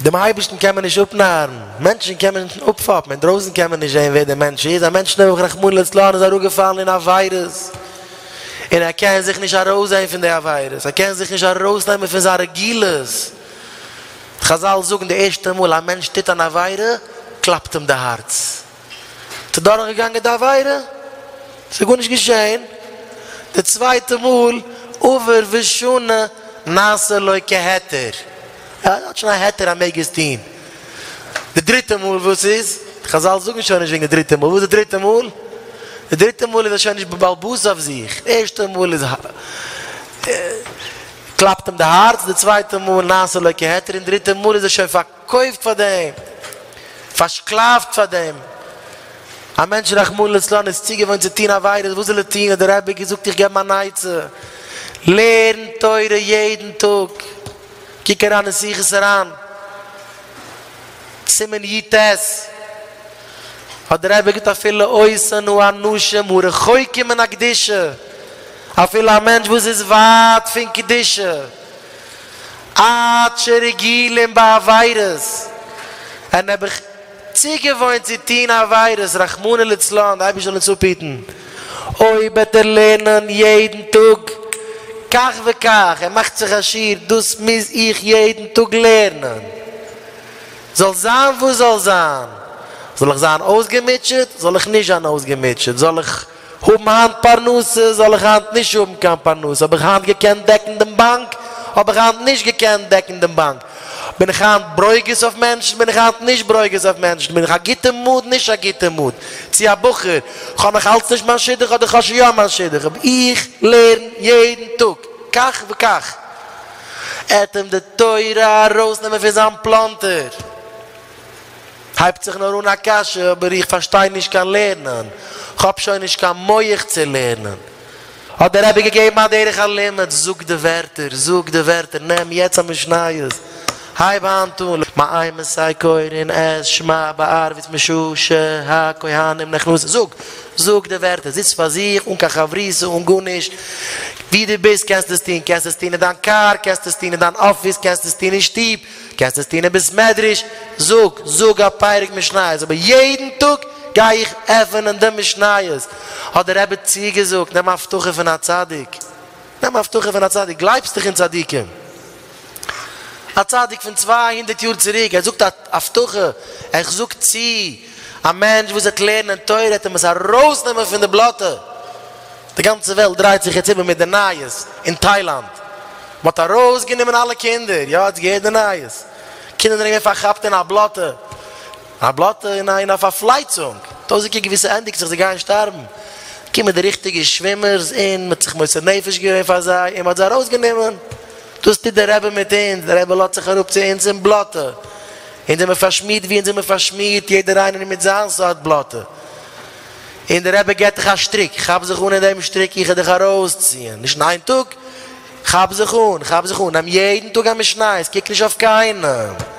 דעם אייבערשטן קען מען נישט אפנארן, מענטשן קען מען נישט אפפאפן, אינדרויסן קען מען נישט זען ווער דער מענטש איז, א מענטש נעבעך רחמנא לצלן איז אראפגעפאלן אין א וויירוס, און ער קען זיך נישט ארויסזען פון די וויירוס, ער קען זיך נישט ארויסנעמען פון זיין רגילות, חזל זאגן די ערשטע מאל א מענטש טוט אן עבירה קלאפט אים די הארץ. האט ער דורך געגאנגען די עבירה? ס'איז גארנישט געשעהן, די צווייטע מאל עבר ושנה נעשה לו כהיתר, ער האט שוין א היתר ער מעג עס טוהן, די דריטע מאל וואס איז? די חזל זאגן שוין נישט וועגן די דריטע מאל, וואס איז די דריטע מאל? די דריטע מאל איז ער שוין נישט בבעלות אויף זיך, די ערשטע מאל איז קלאפט אים די הארץ, די צווייטע מאל נעשה לו כהיתר, און דריטע מאל איז ער שוין פאר. קויפט פאר דעם, פארשקלאפט פאר דעם, א מענטש רחמנא לצלן איז צוגעוואוינט צו טון עבירות, וואס זאל ער טון, האט דער רבי געזאגט איך געב אים אן עצה, לערן תורה יעדן טאג, קוק אריין אין שיחות הרן, סימן י ט, האט דער רבי געזאגט אפילו עושנו אנשים הרחוקים מן הקדושה, אפילו א מענטש וואס איז ווייט פון קדושה, עד שרגילים בעבירות, ווען האב איך צוגעוואוינט צו טון עבירות, רחמנא לצלן, די אייבערשטער זאל אונז אפהיטן, אויב וועט ער לערנען יעדן טאג כך וכך, ער מאכט זיך א שיעור, דאס מוז איך יעדן טאג לערנען, זאל זיין וואס זאל זיין, זאל איך זיין אויסגעמוטשעט, זאל איך נישט זיין אויסגעמוטשעט, זאל איך. האבן היינט פרנסה, זאל איך היינט נישט האבן קיין פרנסה, האב איך היינט געקענט דעקן דעם באנק, האב איך היינט נישט געקענט דעקן דעם באנק, בין איך היינט ברוגז אויף מענטשן, בין איך היינט נישט ברוגז אויף מענטשן, בין איך א גוטע מוד, נישט א גוטע מוד צו א בחור, כ'האב נאך אלץ נישט מיין שידוך אדער כ'האב שוין יא מיין שידוך, אבער איך לערן יעדן טאג כך וכך, עטעם די תורה ארויסנעמען פון זיין פלאנטער. הייבט זיך נאר אן א קשיא, אבער איך פארשטיי נישט קיין לערנען, כ'האב שוין נישט קיין מח צו לערנען. האט דער רבי געגעבן א דרך הלימוד, זאג די ווערטער, זאג די ווערטער, נעם יעצט א משניות, הייב היינט אן, מאי מסי קורין את שמע בערבית משא ש הכהנים נכנסין, זאג, זאג די ווערטער, זיץ פאר זיך, אן קיין חברותא, אן גארנישט, ווי דו ביסט קענסטו עס טון, קענסטו עס טון אין דיין קאר, קענסטו עס טון אין דיין אפיס, קענסטו עס טון אין שטוב, קענסט עס טון אין בית מדרש, זאג, זאג א פרק משניות, אבער יעדן טאג גיי איך עפענען די משניות, האט דער רבי צוגעזאגט, נעם הבטחה פון א צדיק, נעם הבטחה פון א צדיק, גלייבסט דאך אין צדיקים, א צדיק פון צוויי הונדערט יאר צוריק, ער זאגט א הבטחה, ער זאגט צו א מענטש וואס וועט לערנען תורה, ער וועט אים עס ארויסנעמען פון די בלאטע. די גאנצע וועלט דרייט זיך יעצט איבער מיט די נייעס אין טיילאנד, מ'האט ארויסגענומען אלע קינדער, יא האטס געהערט די נייעס, קינדער זענען געווען פארכאפט אין א בלאטע, א בלאטע אין א אין א פארפלייצונג, טויזנטער געוויסע ענדיגט זיך זיי גייען שטארבן, קומען די ריכטיגע שווימערס אין מ'האט זיך מוסר נפש געווען פאר זיי אין מ'האט זיי ארויסגענומען, דאס טוט די רבי מיט אונז, די רבי לאזט זיך אראפ צו אונז אין בלאטע, אונז זעמער פארשמירט ווי אונז זעמער פארשמירט, יעדער איינער מיט זיין סארט בלאטע. און דער רבי געט דיך א שטריק, כאפ זיך אן אין דעם שטריק איך וועל דיך ארויסציען, נישט אין איין טאג, כאפ זיך אן, כאפ זיך אן, נעם יעדן טאג א משניות, קוק נישט אויף קיינעם.